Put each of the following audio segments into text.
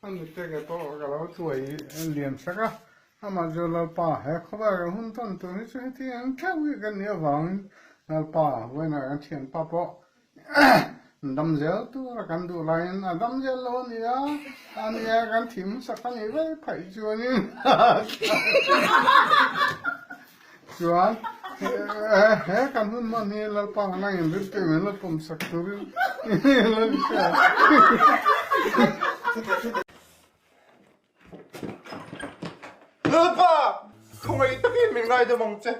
A nute nge tawh ka lo tuai lian sak a, amah chu Lalpa he khawvêl kan hun tawn tur hi chu heti ang theuh hi kan nih avangin Lalpa vawiinah kan thian pa pawh dam zel tura kan duh laiin a dam zel lo a ni a, a ni a kan thih hmasak a nih vek phei chuanin. Chuan he kan hun hman hi Lalpa han angin rim teh mai lo pawm sak turin lo insawi a. Lalpa! Khawngei takin min ngai deuh mang che.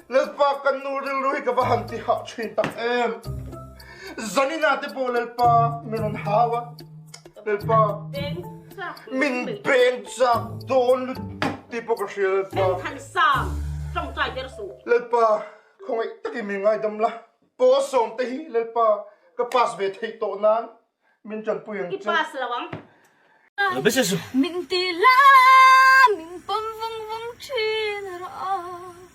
Lalpa kan nu rilru hi ka va han ti hah thin tak em. Zanina te pawh Lalpa min rawn hau a. Lalpa, min beng chak dawn lutuk tih pawh ka hria Lalpa. Thantlang, tawngtai der suh. Lalpa, khawngaih takin min ngaidam la, paw a sawm te hi Lalpa ka pass ve theih tawh nan min ṭanpui ang che. I pass lo ang. Min ti la, min pawm vung vung ṭhin a rawh a.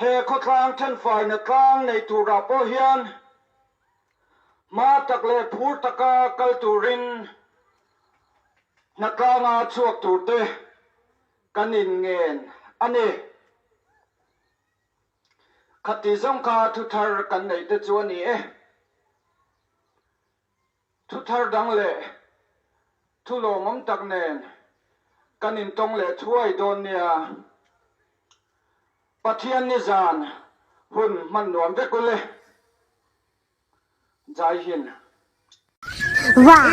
He khawtlang ṭhenfaina tlang nei turah pawh hian hma tak leh phur taka kal turin hnatlanga chhuak turte kan inngen a ni. Khati zawng kha thuthar kan neite chu a ni e. Thu thar dang leh thu lawmawm tak nen kan intawng leh thuai dawn nia. Pathian nizan hun hman nuam vek u le. Jai Hind. Wah.